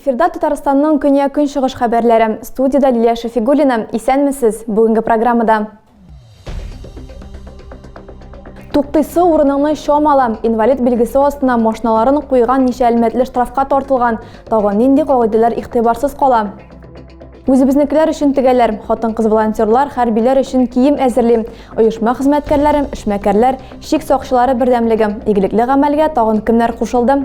Эфирда Татарстанның көне күн чыгыш хәбәрләре. Студияда Лилия Шафигуллина. Исәнмесез. Бүгенге программада Туктыйсы урыныңны чамала, инвалид билгесе астына машиналарын куйган ничә әлмәтле штрафка тартылган, тагын нинди кагыйдәләр игътибарсыз кала. Үзебезнекеләр өчен тегәләр, хатын-кыз волонтерлар хәрбиләр өчен кием әзерли. Оешма хезмәткәрләре, эшмәкәрләр, чик сакчылары бердәмлеге, игелекле гамәлгә тагын кемнәр кушылды?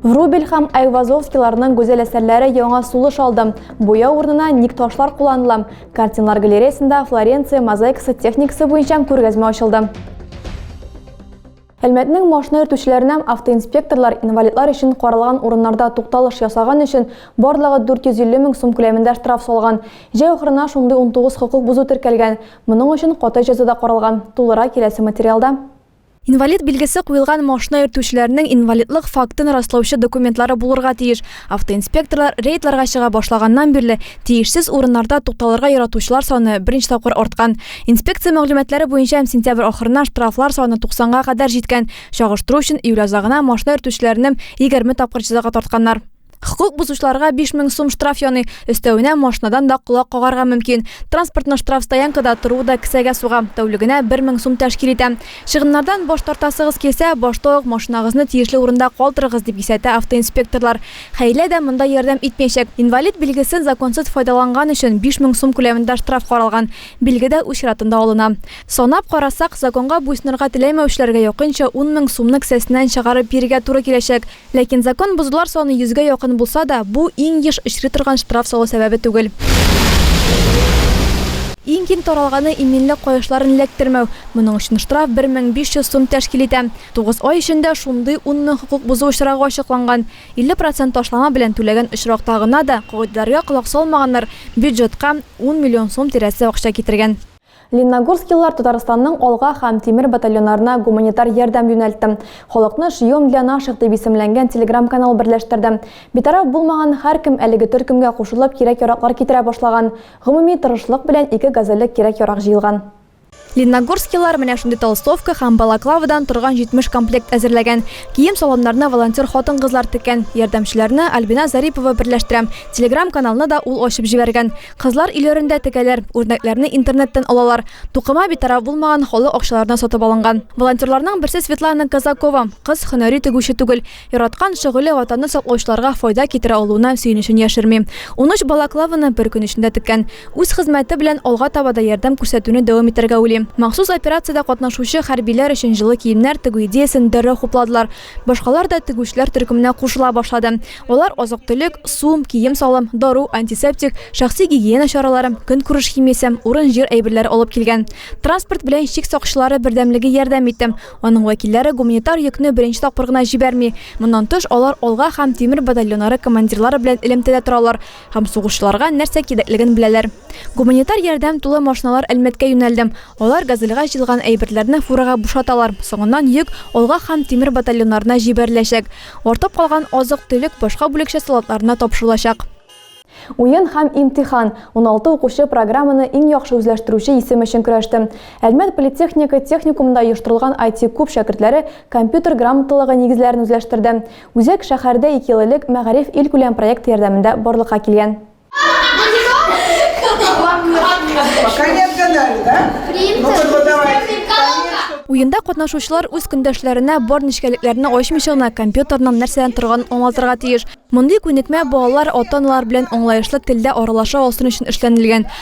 Врубель һәм Айвазовскийларның гүзәл әсәрләре яңа сулыш алды. Буя урынына ник ташлар кулланыла. Картиналар галереясында Флоренция мозаикасы техникасы буенча күргәзмә ачылды. Әлмәтнең машина йөртүчеләренә автоинспекторлар инвалидлар өчен каралган урыннарда тукталыш ясаган өчен барлыгы 450 мең сум күләмендә штраф салган. Җәй ахырына шундый 19 хокук бозу теркәлгән. Моның өчен каты җәза да каралган. Тулырак киләсе материалда. Инвалид билгесе куелган машина йөртүчеләрнең инвалидлык фактын раслаучы документлары булырга тиеш. Автоинспекторлар рейдларга чыга башлаганнан бирле тиешсез урыннарда тукталырга яратучылар саны беренче тапкыр арткан. Инспекция мәгълүматлары буенча сентябрь ахырына штрафлар саны 90 га кадәр җиткән. Чагыштыру өчен, июль азагына машина йөртүчеләрнем егерме тапкыр җәзага тартканнар. Хокук бозучыларга 5000 сум штраф яный, өстәвенә машинадан да колак кагарга мөмкин. Транспортның штраф стоянкада торуы да кесәгә суга, тәүлегенә 1000 сум тәшкил итә. Чыгымнардан баш тартасыгыз килсә, башта ук машинагызны тиешле урында калдырыгыз, дип кисәтә автоинспекторлар. Хәйлә дә монда ярдәм итмәячәк. Инвалид билгесен законсыз файдаланган өчен 5000 сум күләмендә штраф каралган. Билге дә үз чиратында алына. Санап карасак, законга буйсынырга теләмәүчеләргә якынча 10000 сумны кесәсеннән чыгарып бирергә туры киләчәк. Ләкин закон бозулар саны йөзгә якын булса да, бу иң еш очрый торган штраф салу сәбәбе түгел. Иң киң таралганы, иминлек каешларын эләктермәү. Моның өчен штраф 1500 сум тәшкил итә. Тугыз ай эчендә шундый 10 мең хокук бозу очрагы ачыкланган. 50 процент ташлама белән түләгән очракта гына да кагыйдәләргә колак салмаганнар бюджетка ун миллион сум тирәсе акча китергән. Ленногорскилылар Татарстанның Алга һәм Тимер батальоннарына гуманитар ярдәм юнәлтте. Халыкны Шьем для наших дип исемләнгән телеграм-канал берләштерде. Битараф булмаган һәркем әлеге төркемгә кушылып кирәк-яраклар китерә башлаган. Гомуми тырышлык белән ике газельлек кирәк-ярак җыелган. Ленногорскилылар менә шундый толстовка һәм балаклавадан торган 70 комплект әзерләгән. Кием-саламнарны волонтер хатын-кызлар теккән. Ярдәмчеләрне Альбина Зарипова берләштерә. Телеграм-каналны да ул ачып җибәргән. Кызлар өйләрендә тегәләр, үрнәкләрне интернеттан алалар. Тукыма битараф булмаган, халык акчаларына сатып алынган. Волонтерларның берсе Светлана Казакова. Кыз һөнәри тегүче түгел. Яраткан шөгыле Ватанны саклаучыларга файда китерә алуына сөенечен яшерми. Унөч балаклаваны бер көн эчендә теккән. Үз хезмәте белән алга таба да ярдәм күрсәтүне дәвам итәргә уйлый. Махсус операциядә катнашучы хәрбиләр өчен җылы киемнәр тегү идеясен дәррәү хупладылар. Башкалар да тегүчеләр төркеменә кушыла башлады. Алар азык-төлек, су, кием-салым, дару, антисептик, шәхси гигиена чаралары, көнкүреш химиясе, урын-җир әйберләре алып килгән. Транспорт белән чик сакчылары бердәмлеге ярдәм итте. Аның вәкилләре гуманитар йөкне беренче тапкыр гына җибәрми. Моннан тыш, алар Алга һәм Тимер батальоннары командирлары белән элемтәдә торалар. Һәм сугышчыларга нәрсә кирәклеген беләләр. Гуманитар ярдәм тулы машиналар Әлмәткә юнәлде. Алар Газельгә җыелган әйберләрне фурага бушаталар, соңыннан йөк, алга һәм тимер батальоннарына җибәреләчәк. Артып калган азык-төлек башка бүлекчә солдатларына тапшырылачак. Уен һәм имтихан. Уналты укучы программаны иң яхшы үзләштерүче исем өчен көрәште. Әлмәт политехника техникумында оештырылган IT-куб шәкертләре компьютер грамоталыгы нигезләрен үзләштерде. Үзәк шәһәрдә ике ел элек Мәгариф илкүләм проекты ярдәмендә барлыкка килгән. Уенда катнашучылар үз көндәшләренә бар нечкәлекләрне ачмыйча гына компьютерның нәрсәдән торганын аңлатырга тиеш. Мондый күнекмә балалар ата-аналар белән аңлаешлы телдә аралаша алсын өчен эшләнелгән.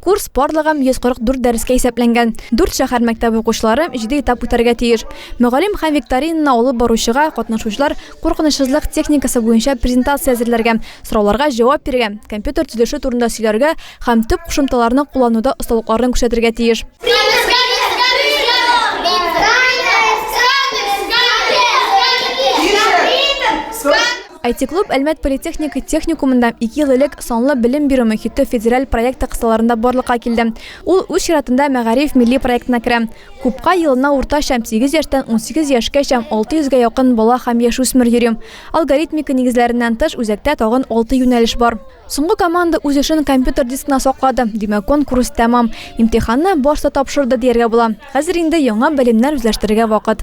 Курс барлыгы 144 дәрескә исәпләнгән. Дүрт шәһәр мәктәбе укучылары җиде этап үтәргә тиеш. Мөгаллим һәм викторинаны алып баручыга катнашучылар куркынычсызлык техникасы буенча презентация әзерләргә, сорауларга җавап бирергә, компьютер төзелеше турында сөйләргә һәм төп кушымталарны куллануда осталыкларын күрсәтергә тиеш. IT-клуб Әлмәт политехника техникумында ике ел элек санлы белем бирү мөхите федераль проекты кысаларында барлыкка килде. Ул үз чиратында Мәгариф милли проектына керә. Купка елына уртача 8 яшьтән 18 яшькәчә 600 гә якын бала һәм яшүсмер йөри. Алгоритмика нигезләреннән тыш, үзәктә тагын алты юнәлеш бар. Соңгы команда үз эшен компьютер дискына саклады, димәк, конкурс тәмам. Имтиханны башта тапшырды, дияргә була. Хәзер инде яңа белемнәр үзләштерергә вакыт.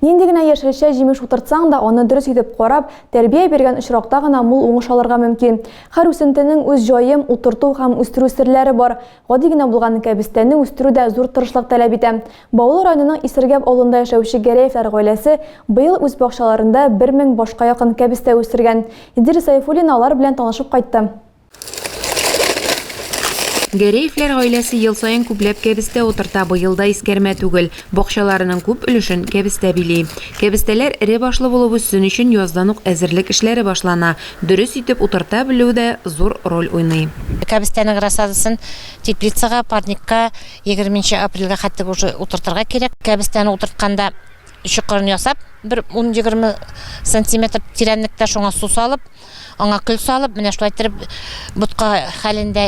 Нинди генә яшелчә, җимеш утыртсаң да, аны дөрес итеп карап, тәрбия биргән очракта гына мул уңыш алырга мөмкин. Һәр үсентенең үз җаем, утырту һәм үстерү серләре бар. Гади генә булган кәбестәне үстерү дә зур тырышлык таләп итә. Баулы районының Исергәп авылында яшәүче Гәрәевләр гаиләсе быел үз бакчаларында бер мең башка якын кәбестә үстергән. Идел Сәйфуллина алар белән танышып кайтты. Гәрәевләр гаиләсе ел саен күпләп кәбестә утырта, быел да искәрмә түгел. Бакчаларының күп өлешен кәбестә били. Кәбестәләр эре башлы булып үссен өчен яздан ук әзерлек эшләре башлана. Дөрес итеп утырта белү дә зур роль уйный. Кәбестәнең рассадасын теплицага, парникка егерме нче апрельгә хәтлек уже утыртырга кирәк. Кәбестәне утыртканда чокырын ясап, бер ун-егерме сантиметр тирәнлектә шуңа су салып, Аңа көл салып, менә шулай итеп ботка хәлендә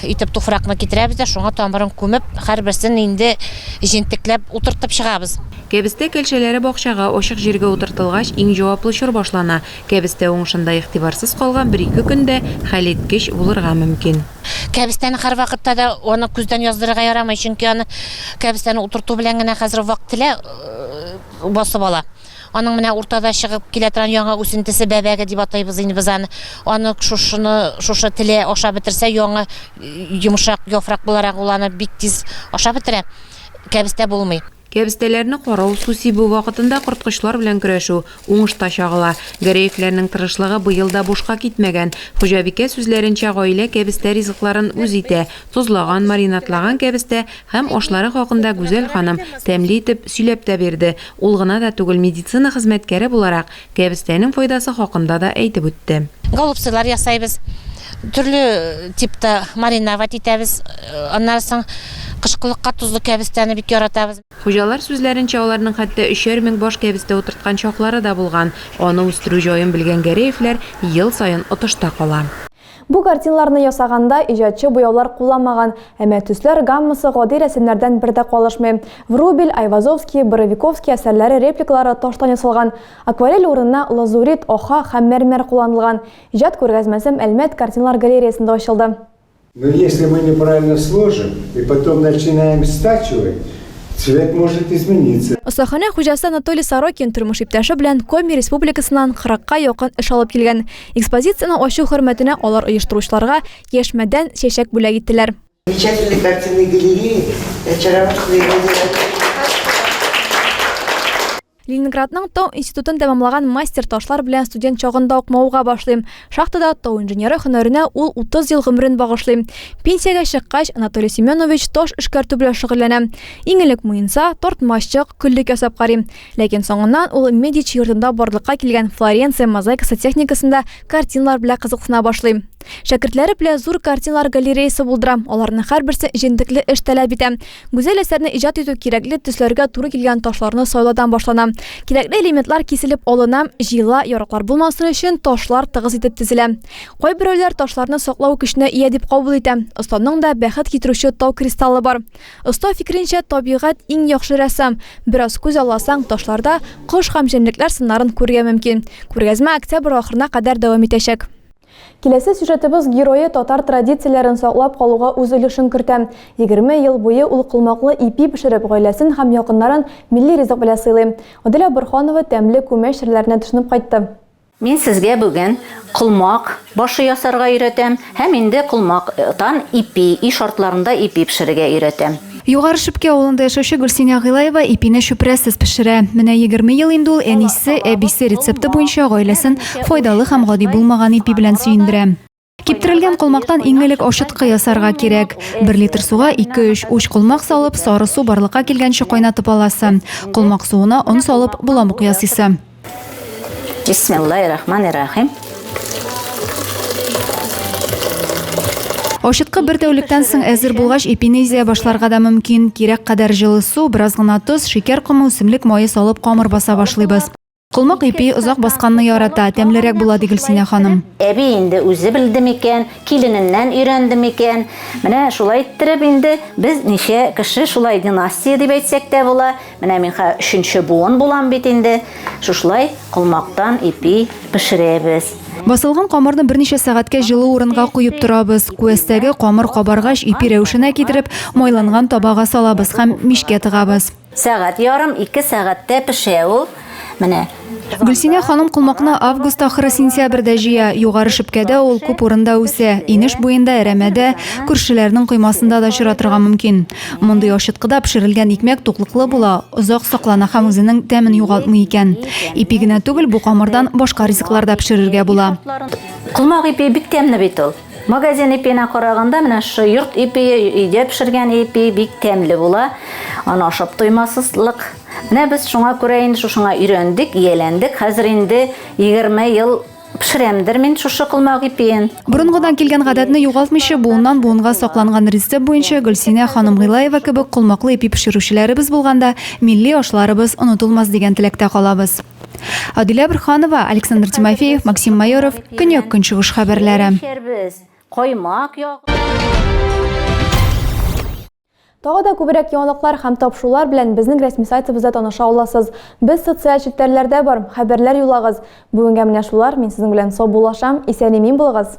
итеп туфракны китерәбез дә, шуңа тамырын күмеп, һәрберсен инде җентекләп утыртып чыгабыз. Кәбестә кәлшәләре бакчага, ачык җиргә утыртылгач, иң җаваплы чор башлана. Кәбестә уңышында игътибарсыз калган бер-ике көн дә хәлиткеч булырга мөмкин. Кәбестәне һәрвакытта да аны күздән яздырырга ярамый, чөнки аны кәбестәне утырту белән генә хәзер вак-телә басып ала. Аның менә уртада чыгып килә торган яңа үсентесе бәбәге дип атыйбыз инде без аны. Аны шушыны, шушы теле ашап бетерсә, яңа йомшак яфрак буларак ул аны бик тиз ашап бетерә. Кәбестә булмый. Кәбестәләрне карау, су сибү вакытында корткычлар белән көрәшү уңышта чагыла. Гәрәевләрнең тырышлыгы быел да бушка китмәгән. Хуҗабикә сүзләренчә, гаилә кәбестә ризыкларын үз итә, тозлаган, маринадлаган кәбестә Һәм ашлары хакында Гүзәл ханым тәмле итеп сөйләп тә бирде, ул гына да түгел, медицина хезмәткәре буларак, кәбестәнең файдасы хакында да әйтеп үтте. Голубцылар ясайбыз, төрле типта мариновать итәбез, аннары соң кышкылыкка тозлы кәбестәне бик яратабыз. Хуҗалар сүзләренчә, аларның хәтта өчәр мең баш кәбестә утырткан чаклары да булган, аны үстерү җаен белгән Гәрәевләр ел саен отышта кала. Бу картиналарны ясаганда иҗатчы буяулар кулланмаган, әмма төсләр гаммасы гади рәсемнәрдән бер дә калышмый. Врубель, Айвазовский, Боровиковский әсәрләре репликалары таштан ясалган, акварель урынына лазурит, оха һәм мәрмәр кулланылган. Иҗат күргәзмәсем Әлмәт картиналар галереясында ачылды. Но если мы неправильно сложим и потом начинаем стачивать, цвет может измениться. Остаханә хуҗасы Анатолий Сорокин тормыш иптәше белән Коми республикасыннан кырыкка якын эш алып килгән. Экспозицияне ачу хөрмәтенә алар оештыручыларга яшь мәдән чәчәк бүләк иттеләр. Замечательный картинный галерея, очаровательный галерея. Ленинградның тау институтын тәмамлаган мастер ташлар белән студент чагында ук мавыга башлыйм. Шахтада тау инженеры һөнәренә ул 30 ел гомерен багышлый. Пенсиягә чыккач, Анатолий Семенович таш эшкәртү белән шөгыльләнә. Иң элек муенса, тартмачык, көллек ясап карый. Ләкин соңыннан ул Медичи йортында барлыкка килгән Флоренция мозаикасы техникасында картиналар белән кызыксына башлый. Шәкертләре белән зур картиналар галереясы булдыра, аларның һәрберсе җентекле эш таләп итә. Гүзәл әсәрне иҗат итү кирәкле төсләргә туры килгән ташларны сайлаудан башлана. Кирәкле элементлар киселеп алына, җыела, яраклар булмасын өчен ташлар тыгыз итеп тезелә. Кайберәүләр ташларны саклау көченә ия дип кабул итә. Останың да бәхет китерүче тау кристаллы бар. Оста фикеренчә, табигать иң яхшы рәссам. Бераз күз алласаң, ташларда кош һәм җәнлекләр сыннарын күрергә мөмкин. Күргәзмә октябрь ахырына кадәр дәвам итәчәк. Киләсе сюжетыбыз герое татар традицияләрен саклап калуга үз өлешен кертә. Егерме ел буе ул колмаклы ипи пешереп, гаиләсен һәм якыннарын милли ризык белән сыйлый. Аделя Борһанова тәмле күмәч серләренә төшенеп кайтты. Мин сезгә бүген колмак башы ясарга өйрәтәм һәм инде колмак тан ипи, өй шартларында ипи пешерергә өйрәтәм. Югары Шепки авылында яшәүче Гөлсинә Гыйлаева ипине чүпрәсез пешерә. Менә егерме ел инде ул әнисе, әбисе рецепты буенча гаиләсен файдалы һәм гади булмаган ипи белән сөендерә. Киптерелгән колмактан иң элек ачыткы ясарга кирәк. Бер литр суга 2-3 уч колмак салып, сары су барлыкка килгәнче кайнатып аласы. Колмак суына он салып, боламык ясыйсы. Бисмиллаһир-рахманир-рахим. Ачыткы бер тәүлектән соң әзер булгач, ипине изә башларга да мөмкин. Кирәк кадәр җылы су, бераз гына тоз, шикәр комы, үсемлек мае салып камыр баса башлыйбыз. Колмак ипи озак басканны ярата, тәмлерәк була, ди Гөлсинә ханым. Әби инде үзе белде микән, килененнән өйрәнде микән? Менә шулай иттереп инде без ничә кеше шулай династия дип әйтсәк тә була. Менә мин хә өченче буын булам бит инде. Шушылай колмактан ипи пешерәбез. Басылган камырны берничә сәгатькә җылы урынга куеп торабыз. Күәстәге камыр кабаргач, ипи рәвешенә китереп, майланган табага салабыз һәм мичкә тыгабыз. Сәгать ярым, ике сәгатьтә пешә ул. Менә. Гөлсинә ханым колмакны август ахыры-сентябрьдә җыя. Югары шепкәдә ул күп урында үсә. Инеш буенда, әрәмәдә, күршеләрнең коймасында да очратырга мөмкин. Мондый ачыткыда пешерелгән икмәк туклыклы була, озак саклана һәм үзенең тәмен югалтмый икән. Ипи генә түгел, бу камырдан башка ризыклар да пешерергә була. Колмак ипи бик тәмле бит ул. Магазин ипиенә караганда менә шу йорт ипие, өйдә пешергән ипи бик тәмле була. Аны ашап туймасызлык. Менә без шуңа күрә инде шушыңа өйрәндек, ияләндек. Хәзер инде 20 ел пешерәмдер мин шушы колмак ипиен. Борынгыдан килгән гадәтне югалтмыйча, буыннан буынга сакланган рецепт буенча Гөлсинә ханым Гыйлаева кебек колмаклы ипи пешерүчеләребез булганда, милли ашларыбыз онытылмас дигән теләктә калабыз. Адилә Бөрханова, Александр Тимофеев, Максим Майоров, Көньяк-Көнчыгыш хәбәрләре. Каймак Тагы да күбрәк яңалыклар һәм тапшырулар белән безнең рәсми сайтыбызда таныша аласыз. Без социаль челтәрләрдә бар, хәбәрләр юлагыз. Бүгенгә менә шулар, мин сезнең белән саубуллашам, исән-имин булыгыз!